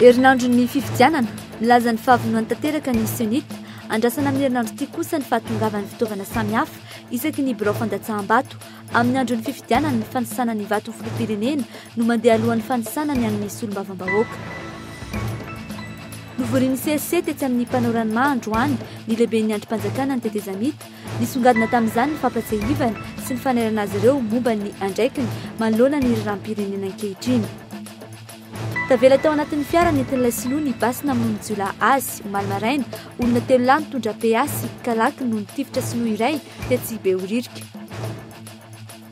Herinandron'ny fifidianana, milaza ny fahavonony tanteraka ny CENI-T. Andrasana amin'ny herinandro ity kosa ny fahatongavan'ny fitaovana samihafa isaky ny birao fandatsaham-bato. Amin'ny andron'ny fifidianana, ny fanisana ny vato ho filoham-pirenena no mandeha alohan'ny fanisana ny an'ny solombavambahoaka. Novorian'ny CSC tetsy amin'ny mpanao ranomà androany ny lehiben'ny andrim-panjakana ny tetezamita. Nisongadina tamin'izany ny fampatsiahivana sy ny fanairana azy ireo momba ny andraikiny manoloana ny raharaham-pirenena ankehitriny. Tavela tao anatin'ny fiara nentin'ilay sinoa ny basy namonoan'ny jiolahy azy, omaly maraina. Olona telo lahy nitondra PA sy kalaky no nitifitra sinoa iray, tetsy Behoririka.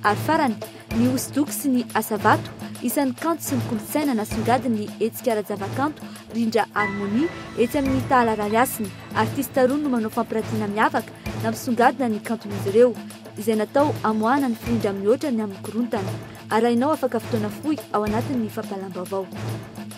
Ary farany, ny hosodoko sy ny asa vato, isan'ny kanto sy ny kolontsaina nasongadin'ny hetsika ara-javakanto Rindra Harmonie etsy amin'ny Tahala Rarihasina. Artista roa no manao fampiratiana miavaka nampisongadina ny kanton'izy ireo, izay natao hamoahana ny firindra mihoatra ny amin'ny korontana. Arahinao afaka fotoana fohy ao anatin'ny fampahalam-baovao.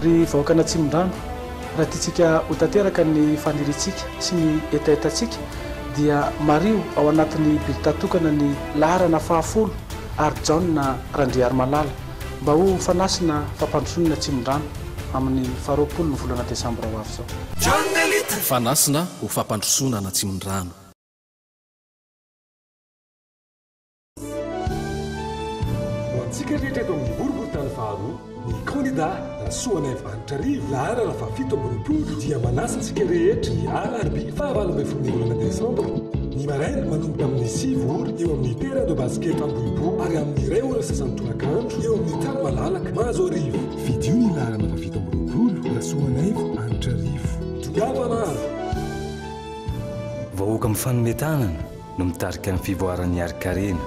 Ry vahoakan'Atsimondrano, raha tiantsika ho tanteraka ny faniriantsika sy ny hetahetantsika dia mariho ao anatin'ny bilta tokana ny laharana fahafolo ary Jaona Randriarimalala. Mba ho fanasina fampandrosoana Tsimondrano amin'ny faha roapolo ny volana desambra ho avy izao. Fanasina ho fampandrosoana ana Tsimondrano. Ho antsika rehetra eto amin'ny boriborintany faharoa, ny kandida Rasoanaivo Andry. Jarivo laharana fahafito amby roapolo dia manasa antsika rehetra ny alarobia fahavalo ambin'ny folo ny volana desambra, ny maraina, manomboka amin'ny sivy ora eo amin'ny terrain de basket Ambohipo ary amin'ny iray ora sasany tolakandro eo amin'ny tany malalaka Mahazoarivo. Fidio ny laharana fahafito amby roapolo, Rasoanaivo, Anitrarivo. Tongava maro! Vahoaka mifanome tanana no mitarika ny fivoaran'ny harin-karena.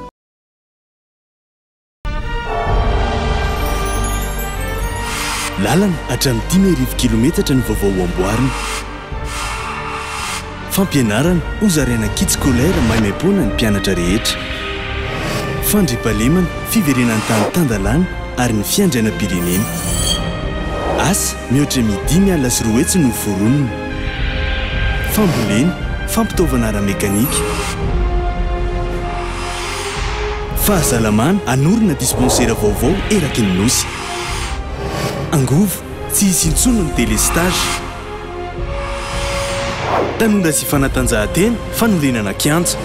Lalana hatramin'ny dimy arivo kilometatra ny vaovao ho amboarina. Fampianarana hozaraina kits scolaires maimaimpoana ny mpianatra rehetra. Fandriampahalemana, fiverenan'ny tany tan-dalàna ary ny fiandrianam-pirenena. Asa mihoatra emy dimy alina sy roa hetsy no foronina. Fambolena, fampitaovana ara-mekanika. Fahasalamana, Hanorina dispensera vaovao eraky ny Nosy. Angovo, Tsy hisy intsony ny délestage. Tanora sy fanatanjahantena, Fanorenana kianja.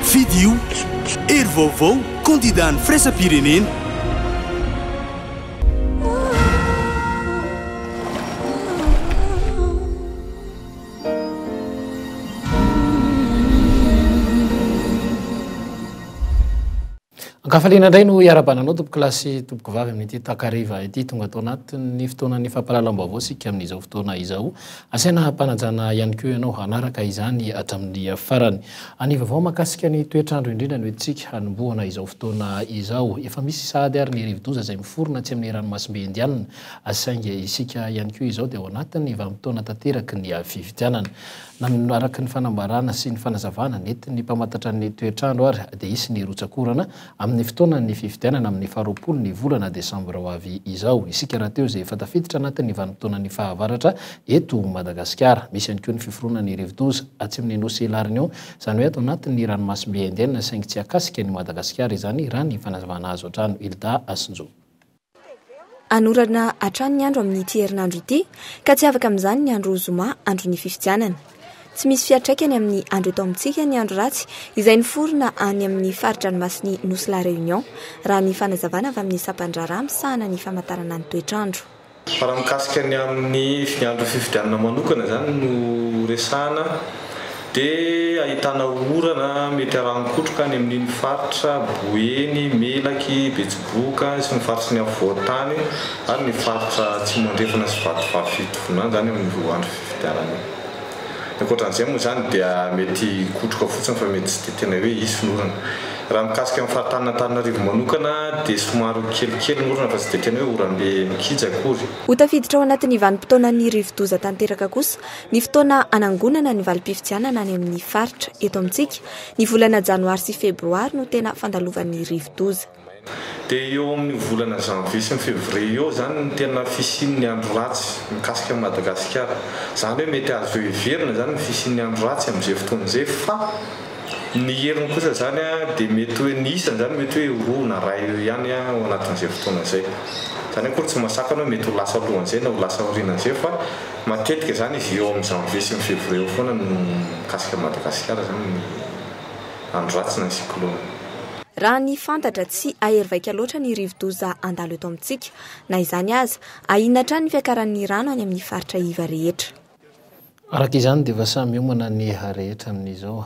Fidio, Hery vaovao, kandidà ny firaisam-pirenena. Ankafaliana indray no iarabananao tompoko lahy sy tompoko vavy amin'ity takariva ity. Tonga tao anatin'ny fotoanan'ny fampahalalam-baovao isika amin'izao fotoana izao. Asaina hampanajana ihany koa ianao hanaraka izany hatramin'ny farany. Ny vaovao mahakasika ny toetr'andro indrindra no entintsika hanombohana izao fotoana izao. Efa misy sahady ary ny rivo-doza izay miforona atsy amin'ny ranomasimbe Indianina. Saingy isika ihany koa izao dia ao anatin'ny vanim-potoana tanteraky ny fifidianana. Na ny araka ny fanambarana sy ny fanazavana nentin'ny mpamantatra ny toetr'andro ary dia hisy ny rotsak'orana amin'ny fotoanan'ny fifidianana amin'ny faharoapolo ny volana desambra ho avy izao. Isika rahateo izay efa tafiditra anatin'ny vanim-potoanan'ny fahavaratra eto Madagasikara. Misy ihany koa ny fiforonan'ny rivodoza atsimon'ny nosy La Réunion, izany hoe ato anatin'ny ranomasimbe Indienne saingy tsy akasika an'i Madagasikara izany raha ny fanazavana azo hatrany. Hilda Asinjo. Hanorana hatrany ny andro amin'ity herinandro ity ka tsy afaka amin'izany ny andro zoma andron'ny fifidianana. Tsy misy fiantraikany amin'ny andro eto amintsika ny andro ratsy izay niforona any amin'ny fari-dranomasin'ny nosy La Réunion, raha ny fanazavana avy amin'ny sampan-draharaha misahana ny famantarana ny toetr'andro. Fa raha mikasika ny amin'ny andron'ny fifidianana manokana izany no resahana. dia ahitana orana mety harahon-kotroka any amin'iny faritra Boeny, Melaky, Betsiboka sy ny faritry ny afovoan-tany ary ny faritra Atsimo Andrefana sy Vatovavy Fitovinany izany amin'ny roa andro fifidianana io. Ny ankoatra an'izay moa izany dia mety hikotroka fotsiny fa mety tsy dia tena hoe hisy ny orana. Raha mikasika ny faritanin'Antananarivo manokana dia somary kelikely ny orana fa tsy dia tena hoe oram-be mikija akory. Ho tafiditra ao anatin'ny vanim-potoanan'ny rivo-doza tanteraka kosa Ny fotoana hanangonana ny valim-pifidianana any amin'ny faritra. Eto amintsika, ny volana janoary sy febroary no tena fandalovan'ny rivodoza. Dia eo amin'io volana janvier sy ny fevrier eo izany no tena fisian'ny andro ratsy mikasika an'i Madagasikara. Izany hoe mety azo heverina izany ny fisian'ny andro ratsy amin'izay fotoana izay fa ny heriny kosa izany dia mety hoe ny isany izany mety hoe eo roa na ray eo ihany ao anatin'izay fotoana izay. Izany akory tsy mahasakana hoe mety ho lasa alohan'izay na ho lasa aorianan'izay fa Matetika izany izy eo amin'ny janvier sy ny février eo foana no mikasika an'i Madagasikara izany ny andro ratsy na ny cyclone. Raha ny fantatra, tsy ahery vaika loatra ny rivodoza handalo eto amintsika. Na izany aza, ahiana hatrany ny fiakaran'ny rano any amin'ny faritra iva rehetra. Araka izany dia efa samy hiomana ny rehetra amin'izao.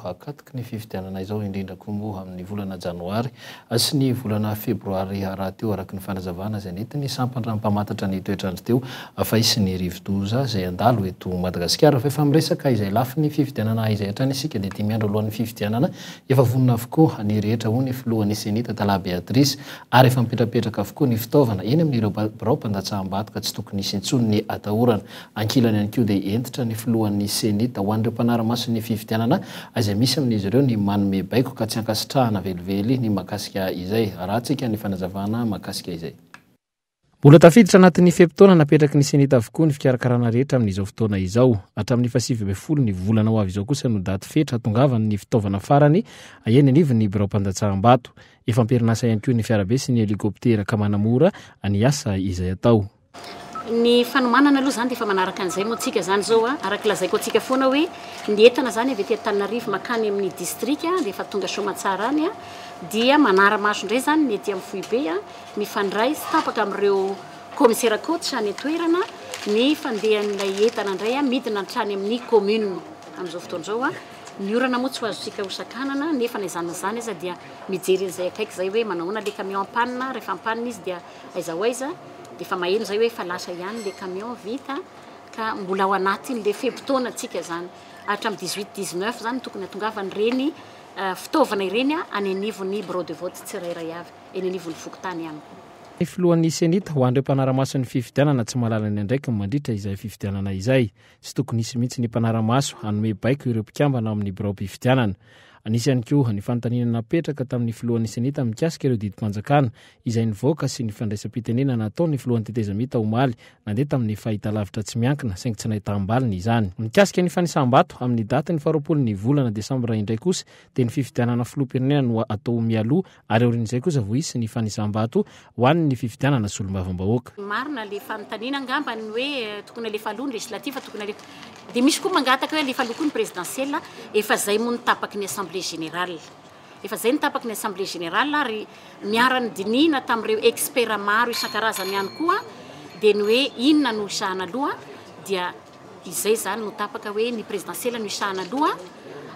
ny fifidianana izao, indrindra koa moa amin'ny volana janoary sy ny volana febroary rahateo, araka ny fanazavana izay nentin'ny sampandra mpamantatra ny toetr'andro teo Afay sy ny rivodoza izay handalo eto Madagasikara. Fa efa miresaka izay lafiny fifidianana izay hatrany isika dia dimy andro alohan'ny fifidianana efa vonona avokoa ny rehetra hoy ny filohan'ny Ceni Tatala Beatrice ary efa mipetrapetraka avokoa ny fitaovana eny amin'ireo birao mpandatsaham-bato ka tsy tokony hisy intsony ny atahorana Ankilany ihany koa dia hentitra ny filohan'ny Ceni tao an'ireo mpanara-maso ny fifidianana izay misy amin'izy ireo ny manome baiko ka tsy ankasitrahana velively ny mahakasika izay. Arahantsika ny fanazavana mahakasika izay. Mbola tafiditra anatin'ny fe-potoana napetraky ny Ceni avokoa ny fikarakarana rehetra amin'izao fotoana izao. Hatramin'ny fahasivy ambin'ny folo ny volana ho avy izao kosa no daty fetra hahatongavany ny fitaovana farany eny anivon'ny biraom-pandatsaham-bato. Efa am-perinasa ihany koa ny fiarabe sy ny helikoptera ka manamora ny asa izay atao. Ny fanomanana aloha izany dia efa manaraka an'izay moa antsika izany izao a, araka ny lazaiko antsika foana hoe ny entana izany avy aty Antananarivo mankany amin'ny distrika dia efa tonga Soamatsara any a, dia manara-maso indray izany ny ety amin'ny foibe a, mifandray sy tapaka amin'ireo kaomisera coach any an-toerana ny fandehan'ilay entana indray a, midina hatrany amin'ny commune amin'izao fotoana izao a, ny orana moa tsy ho azontsika hosakanana nefa na izany na izany aza dia mijery an'izay akaiky izay hoe manao ahoana ilay camion en panne, rehefa en panne izy dia. Aiza ho aiza dia efa maheno izay hoe efa lasa ihany ilay camion vita ka mbola ao anatin'ilay fe-potoanantsika izany. Hatramin'ny dix huit, dix neuf izany no tokony hahatongavan'ireny fitaovana ireny any anivon'ny birao de vote tsirairay avy, eny anivon'ny fokontany ihany. Ny filohan'ny Cenit ho an'ireo mpanara-maso ny fifidianana tsy mahalala ny andraikiny mandritra izay fifidianana izay. Tsy tokony hisy mihitsy ny mpanara-maso hanome baiko ireo mpikambana ao amin'ny biraom-pifidianana. Anisy ihany koa ny fanontaniana napetraka tamin'ny filohan'ny senita mikasika ireo didim-panjakana izay nivoaka sy ny fandraisam-pitenena nataon'ny filohan'ny tetezamita omaly nandeha tamin'ny fahitalavitra tsy miankina saingy tsy nahitaham-baliny izany. Mikasika ny fanisam-bato amin'ny datin'ny faharoapolo ny volana desambra indray kosa dia ny fifidianana filoham-pirenena no atao mialoha ary aorian'izay kosa vao hisy ny fanisam-bato ho an'ny fifidianana solombavambahoaka. Marina le fanontaniana angamba ny hoe tokony alefa aloha ny législative tokony alefa dia misy koa mangataka hoe alefa aloha koa ny présidentielle efa zay moa ny tapaky ny assemblée générale efa zay ny tapaky ny assemblée générale ary niara nidinihina tamin'ireo experts maro isan-karazany ihany koa dia ny hoe inona no hisahana aloha dia Izay izany no tapaka hoe ny prezidansiela no hisahana aloha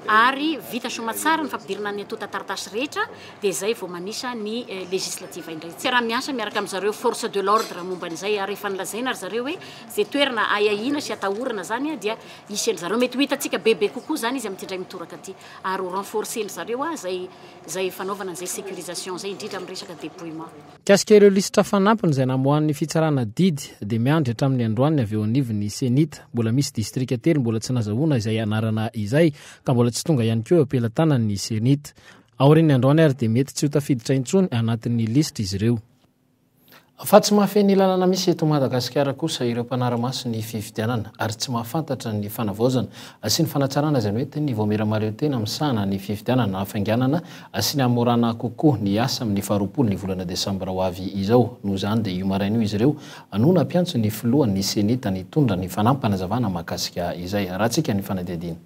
ary vita soamatsara ny fampidirana ny antontan-taratasy rehetra dia izay vao manisa ny legislative indray. Tsiarahamiasa miaraka amin-dry zareo force de l'ordre momba an'izay ary efa nolazaina ry zareo hoe izay toerana ahiahiana sy atahorana izany dia hisy an-dry zareo. Mety ho hitantsika bebe kokoa izany izy amin'ity indray mitoraka ity ary ho renforcer-ndry zareo izay izay fanaovana an'izay securisation izay indrindra amin'ny resaka depouillement. Mikasika ireo lisitra fanampiny izay namoahan'ny fitsarana didy dia miandry hatramin'ny androany avy eo anivon'ny Cenit. Mbola misy distrika telo mbola tsy nazahoana izay anarana izay ka mbola tsy tonga ihany koa eo am-pelatanan'ny Cenit. Aorian'ny androany ary dia mety tsy ho tafiditra intsony anatin'ny lisitra izy ireo. Fa tsy mahafehy ny lalana misy eto Madagasikara kosa ireo mpanara-maso ny fifidianana ary tsy mahafantatra ny fanavaozana sy ny fanatsarana izay mety ny vao miramariotena misahana ny fifidianana hafainganana Asiany hamorana kokoa ny asa amin'ny faharoapolo ny volana desambra ho avy izao. Noho izany dia io maraina io izy ireo no nampiantso ny filohan'ny Senita nitondra ny fanampanazavanaa mahakasika izay. Haratsika ny fanadihadiana.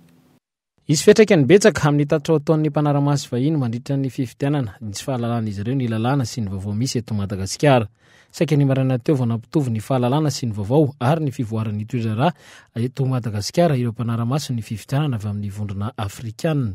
Hisy fiantraikany betsaka amin'ny tatitra ho ataon'ny mpanara-maso vahiny mandritra ny fifidianana ny tsy fahalalan'izy ireo ny lalàna sy ny vaovao misy eto Madagasikara. Saika ny maraina teo vao nampitovy ny fahalalana sy ny vaovao ary ny fivoaran'ny toe-draharaha eto Madagasikara ireo mpanara-maso ny fifidianana avy amin'ny vondrona afrikana.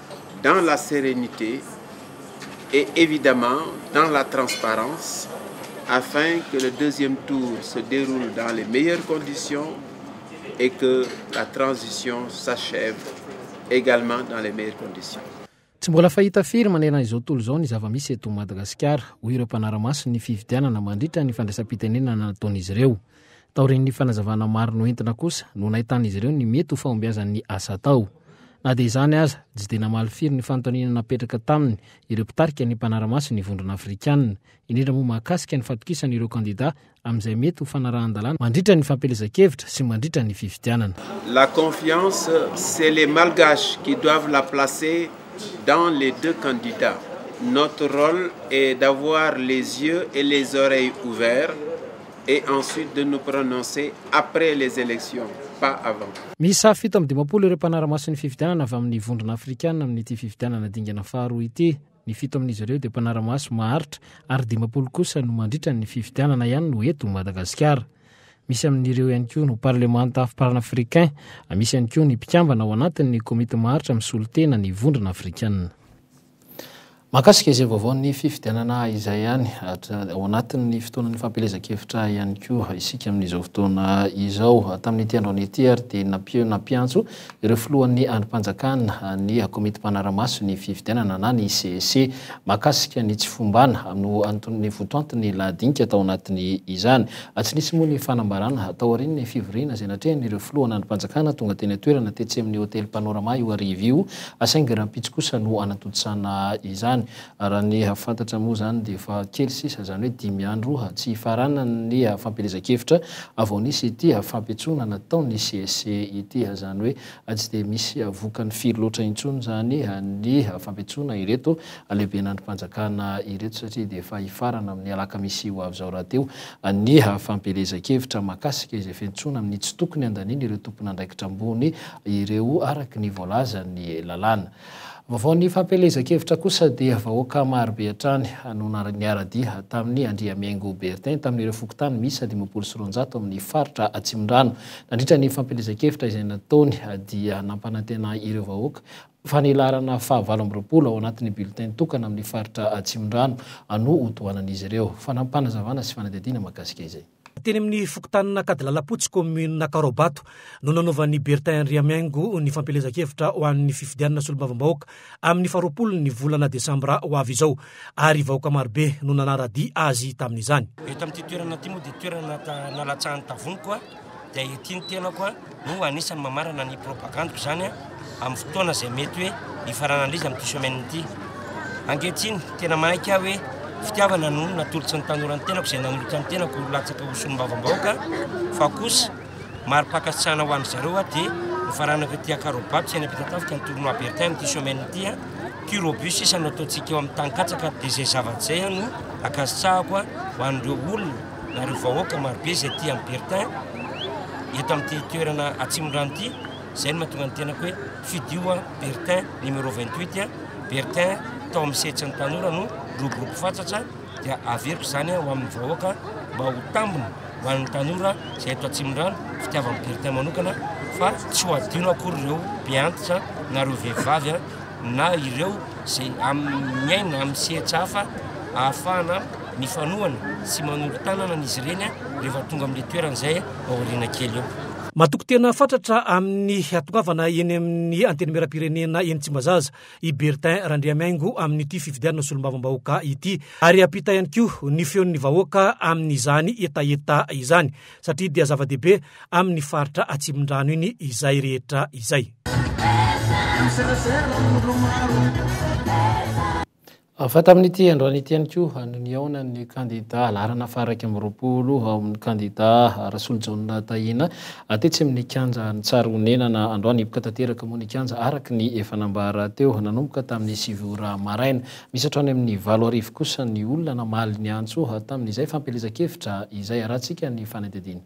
dans la sérénité et évidemment dans la transparence afin que le deuxième tour se déroule dans les meilleures conditions et que la transition s'achève également dans les meilleures conditions. Tsy mbola fahita firy manerana izao tontolo izao ny zava-misy eto Madagasikara, hoy ireo mpanara-maso ny fifidianana mandritra ny fandraisam-pitenenana nataon'izy ireo. Taorian'ny fanazavana maro noentina kosa no nahitan'izy ireo ny mety ho fahombiazan'ny asa atao. Na dia izany aza, tsy dia namaly firy ny fanontaniana napetraka taminy ireo mpitarika ny mpanara-maso ny Vondrona Afrikana, indrindra moa mahakasika ny fatokisana ireo kandidà amin'izay mety ho fanarahan-dalàna mandritra ny fampielezan-kevitra sy mandritra ny fifidianana. La confiance c'est les malgaches qui doivent la placer dans les deux candidats. Notre rôle est d'avoir les yeux et les oreilles ouverts et ensuite de nous prononcer après les elections pas avant. Miisa fito amby dimampolo ireo mpanara-maso ny fifidianana avy amin'ny Vondrona Afrikana amin'ity fifidianana dingana faharoa ity. Ny fito amin'izy ireo dia mpanara-maso maharitra ary dimampolo kosa no mandritra ny fifidianana ihany no eto Madagasikara. Misy amin'ireo ihany koa no parlemanta panafricain, misy ihany koa ny mpikambana ao anatin'ny komity maharitra misolo tena ny Vondrona Afrikana. Mahakasika izay vaovaon'ny fifidianana izay ihany, ao anatin'ny fotoanan'ny fampielezan-kevitra ihany koa isika amin'izao fotoana izao. Tamin'ity androany ity ary dia nampi- nampiantso ireo filohan'ny andrim-panjakana ny komity mpanara-maso ny fifidianana na ny CEC mahakasika ny tsy fombana no anton- ny votoanton'ny lahadinika tao anatin'ny izany. Tsy nisy moa ny fanambarana taorian'ny fivoriana izay natrehan'ireo filohan'andrim-panjakana tonga teny an-toerana tetsy amin'ny hotely Panorama io hariva io Saingy rahampitso kosa no hanatontosana izany. Raha ny fantatra moa izany dia efa kely sisa, izany hoe dimy andro tsy hifaranany ny fampielezan-kevitra vao nisy ity fampiantsoana nataon'ny CSC ity. Izany hoe tsy dia misy vokany firy loatra intsony izany ny fampiantsoana ireto lehiben'ny andrim-panjakana ireto satria dia efa hifarana amin'ny alakamisy ho avy izao rahateo ny fampielezan-kevitra mahakasika izay fiantsoana amin'ny tsy tokony handaniana ireo tompon'andraikitra ambony ireo araka ny voalazan'ny lalàna. Vaovaon'ny fampielezan-kevitra kosa dia vahoaka marobe hatrany no niara-dia tamin'i Andriamihaingo Bertin tamin'ireo fokontany miisa dimampolo sy roanjato amin'ny faritra Atsimondrano. Nandritra ny fampielezan-kevitra izay nataony dia nampanantena ireo vahoaka fa ny laharana fahavalo amby roapolo ao anatin'ny bulletin tokana amin'ny faritra Atsimondrano no ho tohanan'izy ireo. Fanapanazavana sy fanadihadiana mahakasika izay. Teny amin'ny fokontanin'Ankadilalampotsy, kaominina Karobato, no nanaovan'i Bertin Andriamihaingo ny fampielezan-kevitra ho an'ny fifidianana solombavambahoaka amin'ny faharoapolon'ny volana desambra ho avy izao, ary vahoaka marobe no nanara-dia azy tamin'izany. Eto amin'ity toerana ity moa dia toerana nalatsahan'ny tavoniko dia ety ny tenako. Ho anisan'ny mamarana ny propagandiko izany amin'ny fotoana izay mety hoe hifaranana izy amin'ity semaine ity. Ankehitriny, tena manaiky aho hoe fitiavana no natolotry ny tanora ny tenako izay nanolotra ny tenako ho latsaka ho solombavambahoaka fa kosa mari-pankasitrahana ho an'ny zareo aho dia nifaranako ity akarobato sy any am-pitatafika ny tournoi Bertin amin'ity semaine ity a curobus sisa no ataontsika eo amin'ny tany katsaka dia izay zavatra izay no ankasitrahako ho an'ireo olona ary ho vahoaka marobe izay aty amin'ny Bertin, eto amin'ity toerana Atsimondrano ity, izay no mahatonga ny tenako hoe fidio an, Bertin numéro 28 an, Bertin tao amin'ny sehatsin'ny tanora no roborobo fatratra, dia averiko izany ho amin'ny vahoaka mba ho tambiny ho an'ny tanora izay eto Atsimondrano, fitiavan'ny Bertin manokana, fa tsy ho adino akory ireo mpiantitra na ireo vehivavy an, na ireo izay amin'ny miaina amin'ny sehatsa hafa ahafahana Mifanohana sy manolo-tanana an' izy ireny rehefa tonga amin' ilay toerana izay ao aoriana kely eo. Matoky tena fatratra amin'ny hahatongavana eny amin'ny Antenimierampirenena eny Tsimbazaza i Bertin Randriamiaingo amin'ity fifidianana solombavambahoaka ity ary hampita ihany koa ny feon'ny vahoaka amin'izany hetaheta izany satria dia zava-dehibe amin'ny faritra Atsimondrano iny izay rehetra izay. Hafa tamin'ity androany ity ihany koa no nihaona ny kandida laharana faha-iraika amby roapolo ao amin'ny kandida Rasolojaona Tahina tetsy amin'ny kianja Antsarahonenana. Androany hipoka tanteraka moa ny kianja araka ny efa nambara teo nanomboka tamin'ny sivy ora maraina. Misy hatrany amin'ny valo arivo kosa ny olona namaly ny antso tamin'izay fampielezan-kevitra izay. Harahantsika ny fanadihadiana.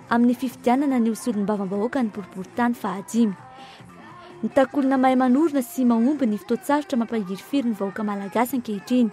amin'ny fifidianana ny ho solombavambahoaka ny boriborintany fahadimy. Mitaky olona mahay manorina sy mahomby ny fotoan-tsarotra mampahirifiry ny vahoaka malagasy ankehitriny.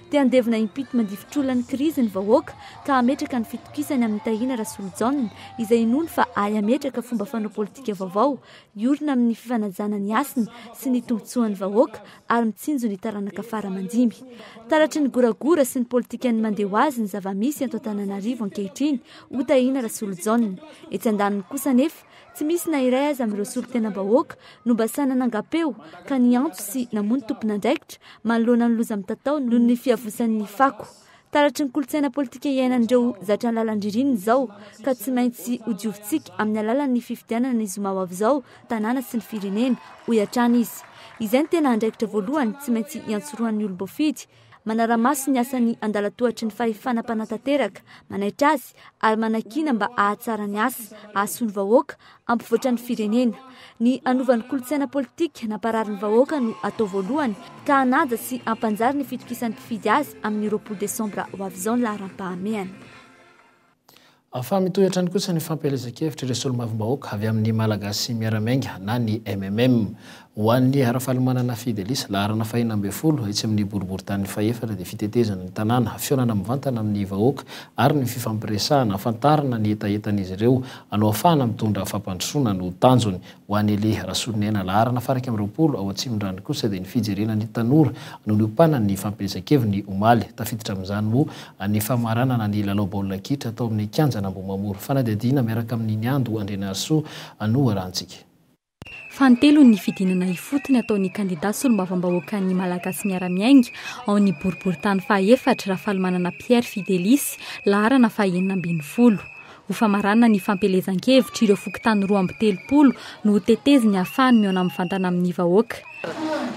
Te handevina impito mandifotr'olona krizy ny vahoaka ka hametraka ny fitokisany amin'i Tahina Rasolojaona izay inoany fa ahy hametraka fomba fanao politika vaovao hiorina amin'ny fifanajana ny hasina sy ny tombontsoan'ny vahoaka ary mitsinjo ny taranaka fara aman-dimby. Taratry ny goragora sy ny politikan'ny mandeha ho azy ny zava-misy eto Antananarivo ankehitriny Ho tahiana Rasolojaona. Etsy andaniny kosa anefa, tsy misy na iray aza amin'ireo solontenam-bahoaka no mba sahy nanangam-peo ka niantso sy namoa ny tompon'andraikitra manoloana ny loza mitatao noho ny fiavosan'ny fako. Taratry ny kolontsaina politika iainan'ireo zatra ny lalan-dririnina izao ka tsy maintsy hodiovitsika amin'ny alalan'ny fifidianana ny zoma ho avy izao ny tanàna sy ny firenena, hoy hatrany izy. Izay no tena andraikitra voalohany tsy maintsy hiantsorohan'ny olom-boafidy. manara-maso ny asan'ny andalan-tohatry ny fahefana mpanatanteraka, manaitra azy ary manakiana mba hahatsara ny asa ahasoan'ny vahoaka ampivoatra ny firenena. Ny hanova ny kolontsaina politika nampararin'ny vahoaka no atao voalohany ka hanaja sy hampanjary ny fitokisan'ny mpifidy azy amin'ny roapolo desambra ho avy izao ny laharam-pahamehana. Fa mitohy hatrany kosa ny fampielezan-kevitra ireo solombavambahoaka avy amin'ny Malagasy Miara-Miainga na ny MMM. Ho an'i Rafalimanana Fidelis, laharana fahenina ambin'ny folo, etsy amin'ny boriborintany fahefatra dia fitetezana ny tanàna, fihaonana mivantana amin'ny vahoaka ary ny fifampiresahana, hahafantarana ny hetahetan'izy ireo, hanohafahana mitondra fampandrosoana no tanjony. Ho an'i Elie Rasolinaina laharana faha iraika amby roapolo ao Atsimondrano kosa dia ny fijerena ny tanora no niompanany ny fampielezan-keviny omaly. Tafiditra amin'izany moa ny famaranana ny lalao baolina kitra tao amin'ny kianjan'Ambohimamory. Fanadihadiana miaraka amin'i Niando Andrianarisoa noharahantsika. Fanintelony ny fidinana ifotony ataon'ny kandida solombavambahoakan'ny Malagasy miara-miainga ao amin'ny boriborintany faha efatra, Rafalimanana Pierre Fidelisy, laharana faha enina ambin'ny folo. Ho famaranana ny fampielezan-kevitry ireo fokontany roa amby telopolo no ho teteziny hahafahany mihaona mivantana amin'ny vahoaka.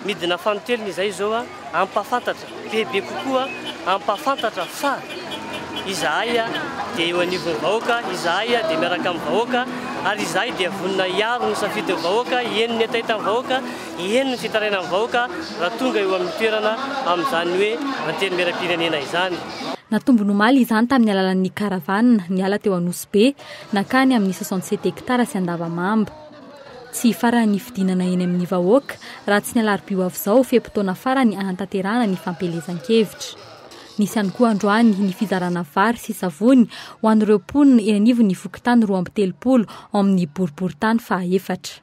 Midina fanintelony izay izao hampahafantatra bebe kokoa hampahafantatra fa izahay dia eo anivon'ny vahoaka, izahay dia miaraka amin'ny vahoaka ary izahay dia vonona hiaro ny safidin'ny vahoaka, eny ny hetaheta'ny vahoaka, eny ny fitarainan'ny vahoaka raha tonga eo amin'ny toerana amin'izany hoe Antenimierampirenena izany. Natombony omaly izany tamin'ny alalan'ny karavana niala teo Anosibe nankany amin'ny soixante sept hectares sy Andavamamba. Tsy hifarana ny fidinana eny amin'ny vahoaka raha tsy ny alarobia ho avy izao fe-potoana farany hanatanterahana ny fampielezan-kevitra. Nisy ihany koa androany ny fizarana vary sy savony ho an'ireo mponina eny anivon'ny fokontany roa amby telopolo ao amin'ny boriborintany fahaefatra.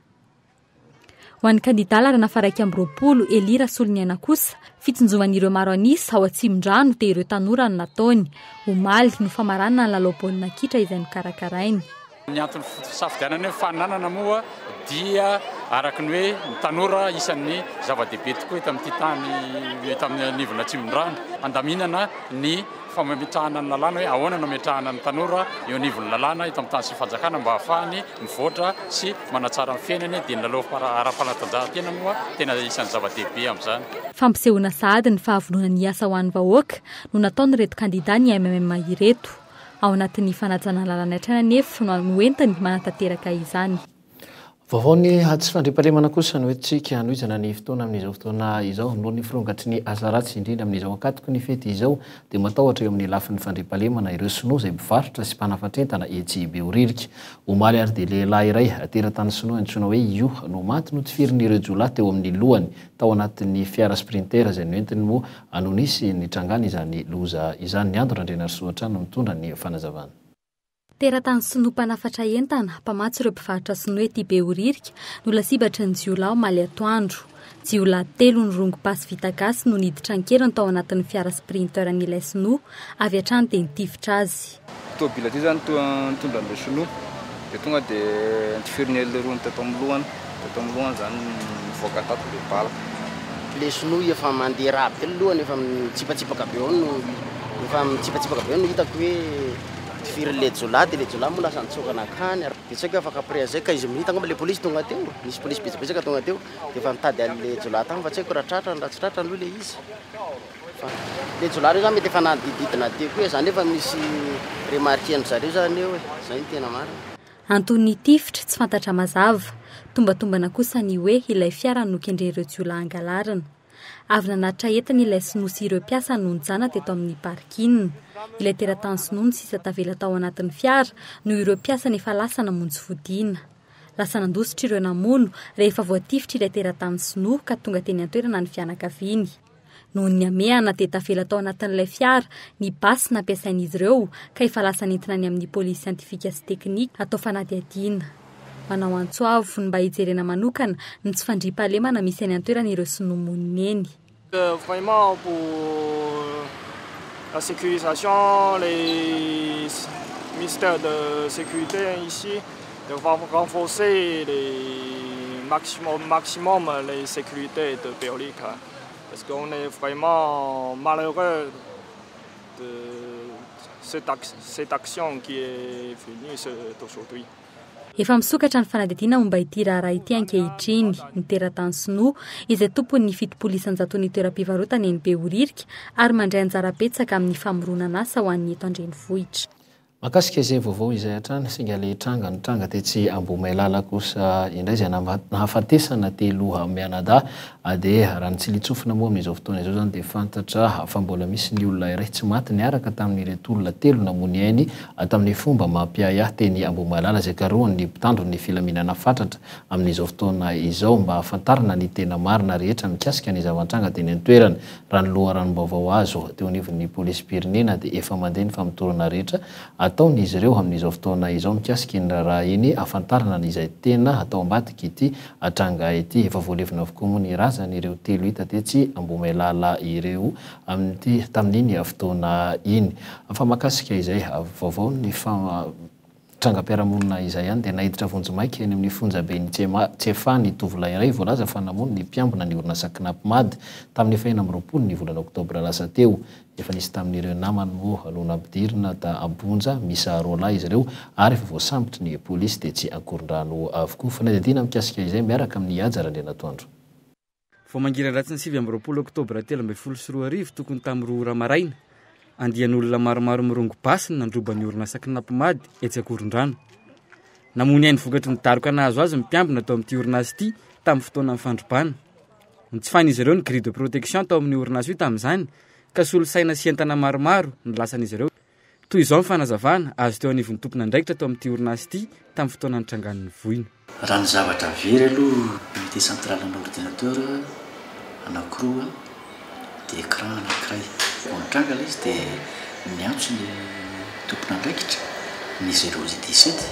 Ho an'ny kandidà laharana faha-iraika amby roapolo, Elie Rasoloniaina kosa, fitsinjovan'ireo maro an'isa ao Atsimondrano dia ireo tanora no nataony. Omaly no famaranana ny lalao baolina kitra izay nokarakarainy. Ny antony fisafidianana hoe faninanana moa dia araka ny hoe ny tanora isan'ny zava-dehibe tokoa eto amin'ity tany, eto amin'ny anivon'ny Atsimondrano. Handaminana ny fametrahana ny lalàna hoe ahoana no ametrahana ny tanora eo anivon'ny lalàna eto amin'ny tany sy ny fanjakana mba hahafahany mivoatra sy manatsara ny fiainany dia ny lalao ara-panatanjahantena moa tena isan'ny zava-dehibe amin'izany. Fampisehoana sahady ny fahavononany hiasa ho an'ny vahoaka no nataon'ireto kandida ny MMM ireto. Ao anatin'ny fanajana ny lalàn'ny hatrany anefa no hoentiny manatanteraka izany. Vaovao ny atsy fandriampahalemana kosa no entintsika hanohizana ny fotoana amin'izao fotoana izao. Noho ny firongatry ny asa ratsy indrindra amin'izao ankatoky ny fety izao dia matahotra eo amin'ny lafiny fandriampahalemana ireo Sinoa izay mpivarotra sy mpanafatra entana etsy Behoririka. Omaly ary dia lehilahy iray teratany Sinoa antsoina hoe Yu no maty notifirin'ireo jiolahy teo amin'ny lohany tao anatin'ny fiara Sprinter izay noentiny moa no nisy nitrangan'izany loza izany. Ny Ando Randrianarisoa hatrany no mitondra ny fanazavana. Teratany sinoa mpanafatra entana, mpamatsy ireo mpivarotra sinoa ety Behoririka no lasibatry ny jiolahy omaly atoandro. Jiolahy telo nirongo basy vita gasy no niditra an-keriny tao anatin'ny fiara Sprinter an'ilay sinoa, avy hatrany dia nitifitra azy. Ity tôbily ity izany toa nitondra an'ilay sinoa dia tonga dia notifiriny elo leroany teto amin'ny lohany, teto amin'ny lohany izany nivoaka tato ilay bala. Ilay sinoa efa mandeha rahatr ny lohany efa mitsipatsipaka be ao no efa mitsipatsipaka be ao no hitako hoe. Tsy firy le jiolahy de le jiolahy moa lasa nitsoaka nankany ary betsaka afaka après zay quinze minutes angamba le polisy tonga teo, nisy polisy betsabetsaka tonga teo de efa nitady anle jiolahy tany fa tsy haiko raha tratrany raha tsy tratrany aloha le izy fa le jiolahy reo zany mety efa nanadididina teo koa e, zany efa misy remarquer ndry zareo zany eo e, zay no tena marina. Anton'ny tifitra, tsy fantatra mazava. Tombatombana kosa ny hoe ilay fiara no kendren'ireo jiolahy angalarina. Avy nanatitra entana ilay sinoa sy ireo mpiasany no nijanona teto amin'ny parking. Ilay teratany sinoa no sisa tavela tao anatin'ny fiara noho ireo mpiasany efa lasa namonjy fodiana. Lasa nandositra ireo namono rehefa voatifitr'ilay teratany sinoa ka tonga teny an-toerana ny fianakaviany. Noho ny hamehana dia tavela tao anatin'ilay fiara ny basy nampiasain'izy ireo ka efa lasa nentina any amin'ny polisy siantifika sy teknika hatao fanadihadiana. Manao antso avo ny mba hijerena manokana ny tsy fandriampahalemana misy eny an-toerana ireo sinoa monina eny. Vraiment pour la sécurisation les mystère de sécurité ici de renforcer le maximum maximum le sécurité de Berlika parce que on est vraiment malheureux de cette action qui est venue aujourd'hui. Efa misokatra ny fanadihadiana momba ity raharaha ity ankehitriny. Ny teratany sinoa, izay tompon'ny fitopolo isan-jaton'ny toeram-pivarotana eny Behoririka ary mandray anjara betsaka amin'ny famoronan'asa ho an'ny eto an-drenivohitra. Mahakasika izay vaovao izay hatrany, singa le tranga nitranga tetsy Ambohimailala kosa indray izay nahafatesana telo mianadahy Adeha, raha ny tsilin-tsofina moa amin'izao fotoana izao izany dia fantatra fa mbola misy ny olona iray tsy maty niaraka tamin'ireto olona telo namoy ny ainy tamin'ny fomba mampiahiahy teny Ambohimahalala izay karohin'ny mpitandro ny filaminana fatratra amin'izao fotoana izao mba hahafantarana ny tena marina rehetra mikasika ny zava-nitranga teny an-toerana. Raha ny loharanom-baovao azo teo anivon'ny polisim-pirenena dia efa mandeha ny famotorana rehetra ataon'izy ireo amin'izao fotoana izao mikasika iny raharaha iny hahafantarana izay tena atao ambadik'ity Atranga ity, efa voalevina avokoa moa ny razan ireo telo hita tetsy Ambohimailala ireo amin ity tamin iny fotoana iny. Fa makasika izay vaovao ny fa trangam piarahamonina izay ihany dia naiditra vonjimaika eny amin ny fonja ben i Tsefa ny tovolahy iray voalaza fa namono ny mpiambina ny orinasa Knapmad tamin ny fahenina amby roapolo ny volana oktobra lasa teo Efa nisy tamin'ireo namany moa no nampidirina ta Ambonja, miisa roa lahy izy ireo ary efa voasambotry ny polisy tetsy Ankorondrano avokoa. Fanadihadiana mikasika izay miaraka amin'i Haja Randrianatoandro. Vao mangiran-dratsy ny sivy amby roapolo oktobra telo ambin'ny folo sy roa arivo tokony tamin'ny roa ora maraina, andian'olona maromaro mirongo basy no nandroba ny orinasa Knapp Mad etsy Ankorondrano. Namoy ny ainy vokatry ny daroka nahazo azy ny mpiambina tao amin'ity orinasa ity tamin'ny fotoanan'ny fandrobana. Notsifahin'izy ireo ny grille de protection tao amin'io orinasa io tamin'izany ka solosaina sy entana maromaro no lasan'izy ireo. Toy izao ny fanazavana azo teo anivon'ny tompon'andraikitra tao amin'ity orinasa ity tamin'ny fotoana nitrangan'ny voina. Raha ny zavatra very aloha unité centrale ana ordinateur anankiroa dia écran anankiray. Vao nitranga ilay izy dia niantso ny tompon'andraikitra ny geologie dix sept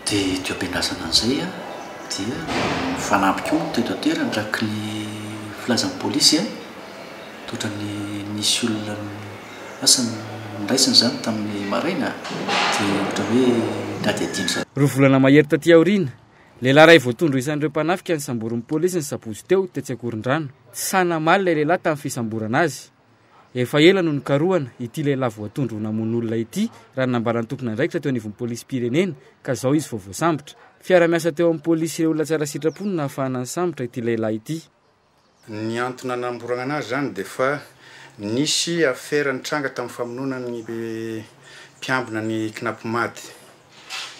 dia diom-piandrasana an'izay an. dia nifanampy koa teto an-toerana araka ny filazan'ny polisy toa ohatran'ny nisy olona asa noraisina izany tamin'ny maraina dia ohatra hoe nihadihadiana izany. Roa volana mahery taty aoriana, lehilahy iray voatondro ho isan'ireo mpanafika ny samborin'ny polisy ny sabotsy teo, tetsy Ankorondrano. Tsy sahy namaly ilay lehilahy tamin'ny fisamborana azy. Efa ela no nikarohana ity lehilahy voatondro ho namono olona ity, raha ny nambaran'ny tompon'andraikitra teo anivon'ny polisim-pirenena, ka izao izy vao voasambotra. Fiara-miasa teo amin'ny polisy sy ireo olona tsara sitrapo no nahafahana nisambotra ity lehilahy ity. Ny antony nanamborana anazy izany dia fa nisy afera nitranga tamin'ny famonoana ny mpiambina ny Knapmad.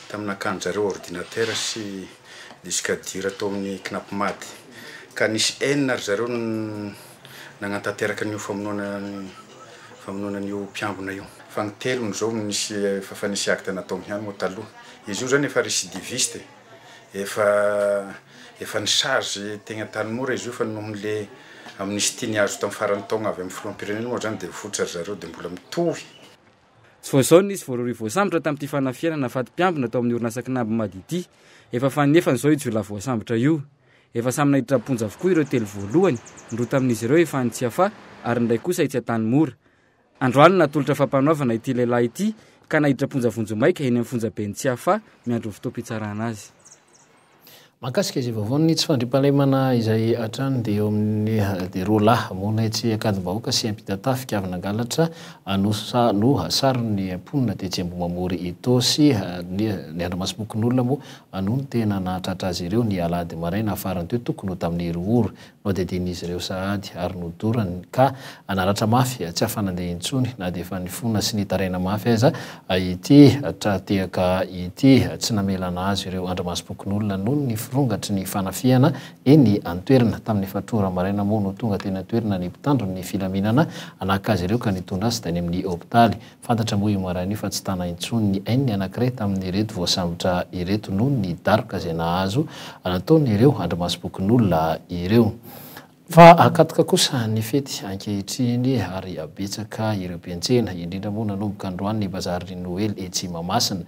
tamin'ny nakan-dRareo ordinatera sy disque dur tao amin'ny Knapmad, ka nisy enina ry zareo no nagnantanteraka an'io famonoana famonoana an'io mpiambina io. Fa ny telony izao no nisy efa fa nisy acte nataony ihany moa taloha. Izy io izany efa recidiviste e! Efa efa ni-charge teny Antanimora izy io fa noho le amnistie niazo tamin'ny faran'ny taogna avy amin'ny filoham-pirenena moa izany dia votsy ry zareo dia mbola mitohy. Tsy vao izao no nisy voarohirohy voasambotra tamin'ity fanafihanana faty mpiambina tao amin'ny orinasa kinambo Mady ity. Efa fanefany izao io jiolahy voasambotra io. Efa samy naiditra am-ponja avokoa ireo telo voalohany, ny roa tamin'izy ireo efa any Tsiafahy ary ny iray kosa etsy Antanimora. Androany no natolotra fampanoavana ity lehilahy ity ka naiditra am-ponja vonjimaika eny amin'ny fonjaben'i Tsiafahy miandry ny fotoam-pitsarana azy. Mahakasika izay vaovao ny tsy fandriampahalemana izay hatrany dia eo amin'ny dia roa lahy monina etsy Ankadimbahoaka sy Ampitatafika avy nangalatra no no saron'ny mponina tetsy Ambohimamory Itaosy ny andrimasom-pokonolona moa no tena nahatratra azy ireo ny alahady maraina farany teo tokony ho tamin'ny roa ora Nohadidian'izy ireo sahady ary nodorany ka hanaratra mafy tsy hahafanandeha intsony na dia efa nifona sy nitaraina mafy aza ity tra-tehaka ity. Tsy namela nahazo ireo andrimasom-pokonolona noho ny firongatry ny fanafihana eny an-toerana. Tamin'ny efatr' ora maraina moa no tonga teny an-toerana ny mpitandro ny filaminana naka azy ireo ka nitondra azy tany amin'ny hopitaly. Fantatra moa io maraina io fa tsy tana intsony ny ainy ny anankiray tamin'ireto voasambotra ireto noho ny daroka izay nahazo nataon'ireo andrimasom-pokonolona ireo. Fa akatoka kosa ny fety ankehitriny ary betsaka ireo mpiantsena, indrindra moa nanomboka androany ny bazarin'ny Noely etsy Mahamasina.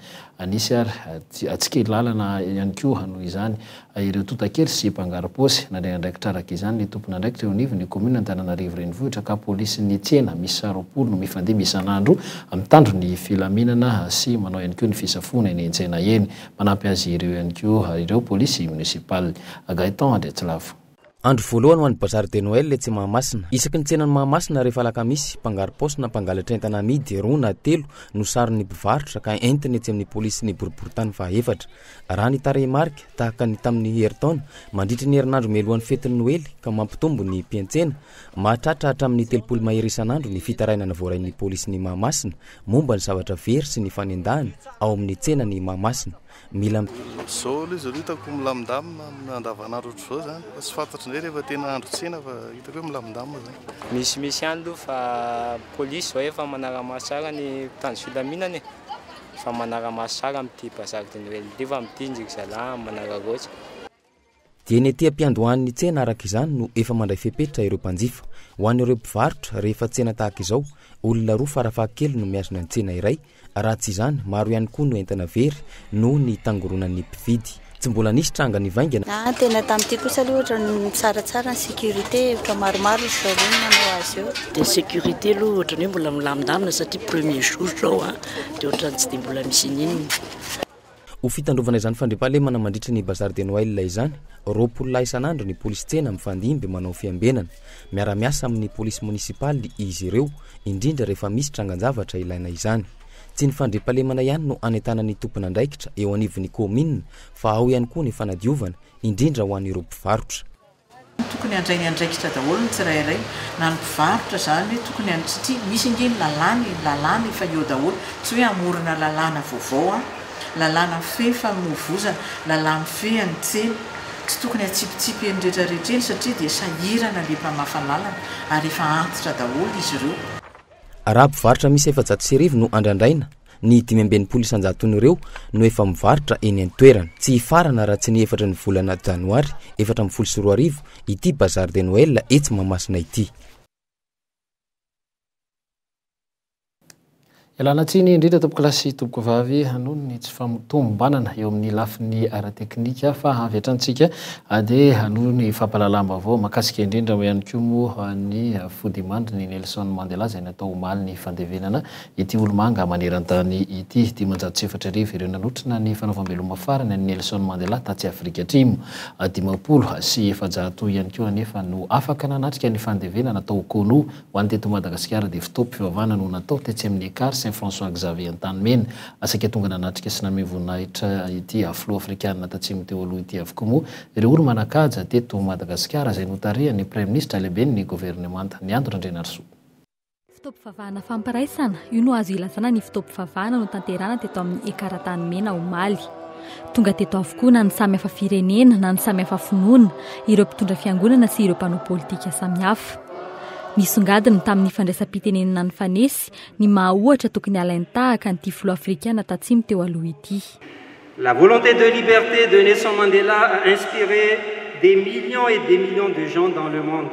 Nisy ary tsikilalana ihany koa noho izany Ireo tonta kely sy mpangarom-paosy. Nandray andraikitra araka izany ny tompon'andraikitra eo anivon'ny kaominina Antananarivo Renivohitra ka polisin'ny tsena miisa roapolo no mifandihy isan'andro mitandro ny filaminana sy manao ihany koa ny fisafoana eny an-tsena eny. Manampy azy ireo ihany koa ireo polisy monisipaly. Gaëtan Andriatsilavo. Andro voalohany ho an'ny Bazar de Noël etsy Mahamasina. Isaky ny tsenan'i Mahamasina rehefa alakamisy, mpangaro-paosy na mpangalatra entana amidy roa na telo no saron'ny mpivarotra ka entina etsy amin'ny polisin'ny boriborintany fahefatra. Raha ny tarehimarika, tahaka ny tamin'ny herintaona, mandritra ny herinandro mialohan'ny fetin'ny Noely ka mampitombo ny mpiantsena, mahatratra hatramin'ny telopolo mahery isan'andro ny fitarainana voarain'ny polisin'i Mahamasina momba ny zavatra very sy ny fanendahana ao amin'ny tsenan'i Mahamasina. Mila. Zao aloha izy ireo hitako milamindamina amin'ny andavan'andro ohatr'izao izany fa tsy fantatro indray rehefa tena andro tsena fa hitako hoe milamindamina izany. Misimisy ihany aloha fa polisy izao efa manara-maso tsara ny mpitandro filaminana e! Efa manara-maso tsara amin'ity bazary de Noël ity fa amin'ity ndry ry zalahy manararaotra. Dia ny ety am-piandohan'ny tsena araka izany no efa mandray fepetra ireo mpanjifa. Ho an'ireo mpivarotra, rehefa tsena tahaka izao, olona roa farafahakeliny no mihazona ny tsena iray, raha tsy izany, maro ihany koa no entana very noho ny tangoronan'ny mpividy. Tsy mbola nisy tranga nivaingana. Ny tena tamin'ity kosa aloha ohatran'ny mitsaratsara ny sécurité, hevitra maromaro ry zareo no nanao azy eo. Dia sécurité aloha ohatran'ny hoe mbola milamindamina satria premier jour izao dia ohatran'ny tsy dia mbola misy ininona. Ho fitandrovana izany fandriampahalemana mandritra ny Bazar de Noël izany, roapolo lahy isan'andro ny polisy tsena mifandimby manao fiambenana. Miara-miasa amin'ny polisy monisipaly izy ireo, indrindra rehefa misy trangan-javatra ilaina izany. Tsy ny fandriampahalemana ihany no anentanan'ny tompon'andraikitra eo anivon'ny kaominina fa ao ihany koa ny fanadiovana, indrindra ho an'ireo mpivarotra. Tokony handray ny andraikitra daholo ny tsirairay na ny mpivarotra izany hoe tokony an satria misy ange ny lalàna e, ny lalàna efa eo daholo tsy hoe hamorona lalàna vaovao an, lalàna mifehy famoivozana, lalàna mifehy ny tsena, tsy tokony hatsipitsipy eny rehetra rehetra eny satria dia sahirana le mpamafa lalana ary efa antitra daholo izy ireo. Raha mpivarotra miisa efajato sy arivo no andrandraina Ny dimy amby enimpolo isan-jaton'ireo no efa mivarotra eny an-toerana. Tsy hifarana raha tsy ny efatra ny volana janoary efatra ambin'ny folo sy roa arivo ity Bazar de Noël etsy Mahamasina ity. Ialana tsiny indrindra tompokolahy sy tompokovavy noho ny tsy famotombanana eo amin'ny lafiny ara-teknika fa avy hatranintsika dia hanohy ny fampahalalam-baovao mahakasika indrindra ihany koa moa ny fodiman-dry ny Nelson Mandela izay natao omaly ny fandevenana Ity olomanga maneran-tany ity, dimanjato sy efatra arivo ireo nanotrona ny fanaovam-beloma farany an'i Nelson Mandela tatsy Afrika Atrimo. Dimampolo sy efajato ihany koa anefa no afaka nanatrika ny fandevenana tao Konou. Ho an'ny teto Madagasikara dia fotoam-pivavahana no natao tetsy amin'ny Ekar Saint François Xavier Antanimena. Saika tonga nanatrika sy nanome voninahitra ity filoha afrikanina tatsimo teo aloha ity avokoa moa ireo olo-manan-kaja teto Madagasikara izay notarihan'ny praiminisitra lehiben'ny governemanta, Ny Andry Randrianarisoa. Fotoam-pivavahana fampiraisana, io no azo ilazana ny fotoam-pivavahana notanterahana teto amin'ny Ekara Tany Mena omaly. Tonga teto avokoa na ny samy hafa firenena na ny samy hafa finoana, ireo mpitondra fiangonana sy ireo mpanao politika samihafa. Nisongadina tamin'ny fandraisam-pitenenana nifanesy ny maha ohatra tokony halainy tahaka an'ity filoha afrikana tatsimo teo aloha ity. La volonté de liberté de Nelson Mandela a inspiré des millions et des millions de gens dans le monde.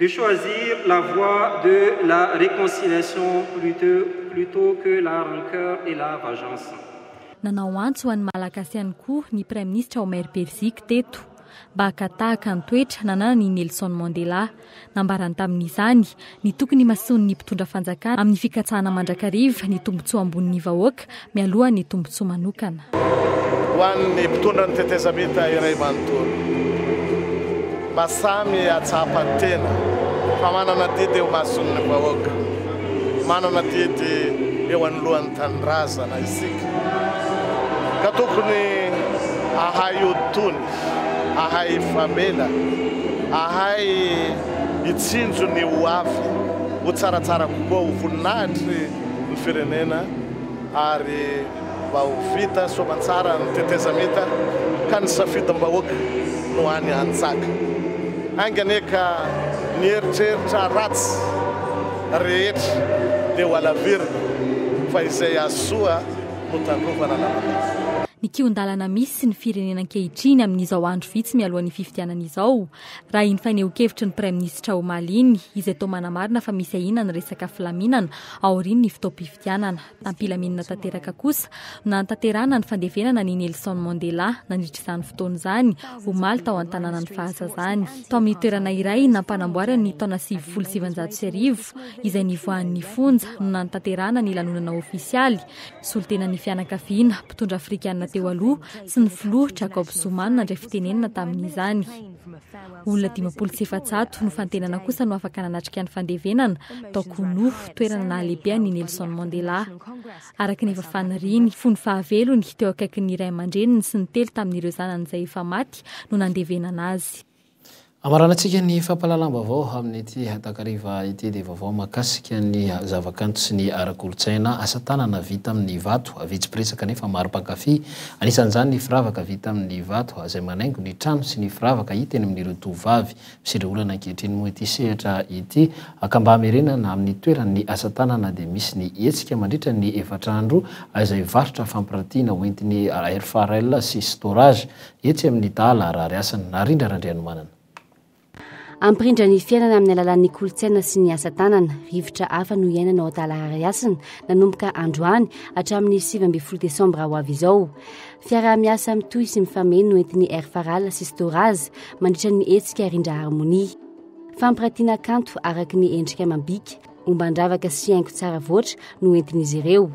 de choisir la voie de la reconciliation plutôt que la rancœur et la vengeance. Nanao antso ho an'ny Malagasy ihany koa ny Praiminisitra Omer Perziky teto mba haka tahaka ny toetra nananany i Nelson Mandela. Nambarany tamin'izany ny tokony himasoan'ny mpitondra fanjakana amin'ny fikatsahana mandrakariva ny tombontsoa ambonin'ny vahoaka mialoha ny tombontsoa manokana. Ho an'ny mpitondra ny tetezamita iray manontolo, mba samy hahatsapa ny tena fa manana adidy eo imason'ny vahoaka, manana adidy eo anoloan'ny tanindrazana isika, ka tokony hahay hoditony, hahay hifamela, hahay hitsinjo ny ho avy ho tsaratsara kokoa ho voninahitry ny firenena. ary mba ho vita soamantsara ny tetezamita ka ny safidim-bahoaka no any an-tsaka. Ainga anie ka ny eritreritra ratsy rehetra dia ho alavirina fa izay azo soa no tandrovana anarana. Ny kihon-dalana misy sy ny firenena ankehitriny amin'izao andro vitsy mialohan'ny fifidianana izao Raha iny fanehoan-kevitry ny Praiminisitra omaly iny, izay toa manamarina fa misy ahiana ny resaka filaminana aorian'ny fotoam-pifidianana, tampilaminana tanteraka kosa no nanatanterahana ny fandevenana an'i Nelson Mandela nandritra izany fotoana izany, omaly tao an-tanànan'ny fahazazany. Tao amin'ny toerana iray nampanamboarany ny taona sivifolo sy sivinjato sy arivo izay nivoahan'ny fonja no nanatanterahana ny lanonana ofisialy Solontenan'ny fianakaviana, mpitondra afrikana teo aloha sy ny filoha Jacob Zuma no nandray fitenenana tamin'izany. Olona dimampolo sy efajato no fantenana kosa no afaka nanatrika ny fandevenana tao Kunu, toerana nahalehibe an'i Nelson Mandela. Araka ny efa faniriany, fony fahavelony, teo akaikin'ny ray aman-dreniny sy ny telo tamin'ireo zanany izay efa maty no nandevenana azy. Hamaranantsika ny fampahalalam-baovao amin'ity takariva ity dia vaovao mahakasika ny zavakanto sy ny ara-kolontsaina, asa tanana vita amin'ny vato, vitsy mpiresaka nefa maro mpankafy, anisan'izany ny firavaka vita amin'ny vato izay manaingo ny trano sy ny firavaka hita eny amin'ireo tovovavy misedra olana ankehitriny moa ity sehatra ity ka mba hamerenana amin'ny toeran'ny asa tanana dia misy ny hetsika mandritra ny efatra andro izay varotra fampirantiana hoentin'ny RFARL sy storage Etsy amin'ny Dahy laharary asany, Narindra Randrianomanana. Hampirindra ny fiainana amin'ny alalan'ny kolontsaina sy ny asa tanana. Rivotra hafa no iainana ao Antalahary Hasina, nanomboka androany hatramin'ny sivy ambin'ny folo desambra ho avy izao. Fiaraha-miasa mitohy sy mifameno no entin'ny Air Faral sy Storaz mandritra ny hetsika Rindra Harmonia. Fampiratiana kanto araka ny endrika amam-bika. Omban-dravaka sy haingo tsara voatra no entin'izy ireo.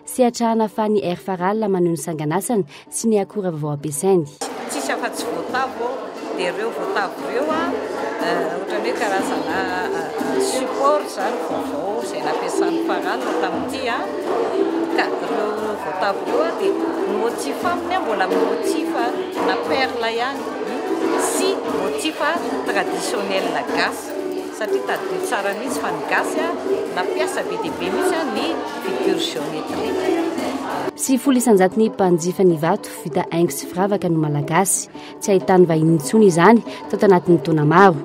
Sehatra hanafahan'ny Air Faral maneho ny sanganasany sy ny akora vao ampiasainy. Tsisy afa-tsy voatavo dia ireo voatavo ireo ohatran'ny hoe karazana support izany vaovao izay nampiasan'ny Faral tamin'ity ka ireo voatavo ireo dia motif aminy mbola motif na perle ihany sy motif traditionnel gasy. Satria tadidio tsara mihitsy fa ny gasy nampiasa be dia be mihitsy ny figure géométrique. Sivifolo isanjato ny mpanjifa ny vato vita haingo sy firavaka no malagasy. Tsy ahitany vahiny intsony izany tao tanatin'ny taona maro.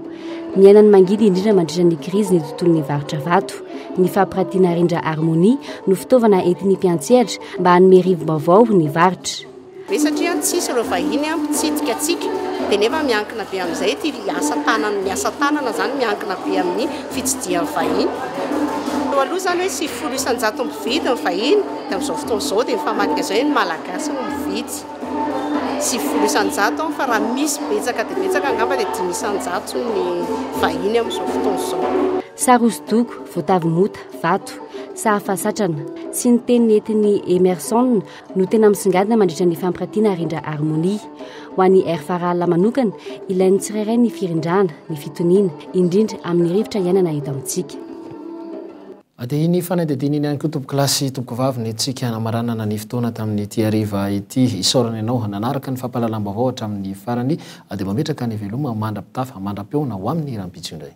Niainan'ny mangidy indrindra mandritra ny krizy ny tontolon'ny varotra vato. Ny fampiratiana rindra Harmonie no fitaovana entin'ny mpiantsehatra mba hanome rivo-baovao ny varotra. Ve satria tsy hisy ireo vahiny mpitsidika antsika dia nefa miankina be amin'izay ity asa tanana, ny asa tanana izany miankina be amin'ny fitsidihan'ny vahiny. Teo aloha izany hoe sivy folo isan-jato mpividy ny vahiny dia amin'izao fotoana izao dia mifamadika izay ny malagasy no mividy. Sivy folo isan-jato fa raha misy betsaka dia betsaka angamba dia dimy isan-jato ny vahiny amin'izao fotoana izao. Sary hosodoko, voatavo mota, vato, sahafa satrana, sy ny teny nentin'i Hemerson no tena misongadina mandritra ny fampirantiana Rindra Harmonie. Ho an'i Air Farala manokana, ilain'ny tsirairay ny firindrana, ny fitoniana, indrindra amin'ny rivotra iainana eto amintsika. Dia iny fanadihadiana iny ihany koa tompoko lahy sy tompoko vavy ny antsika hanamaranana ny fotoana tamin'ity hariva ity. Isaorana ianao nanaraka ny fampahalalam-baovao hatramin'ny farany. Dia mametraka ny veloma mandra-pitafa mandra-peona ho amin'ny rahampitso indray.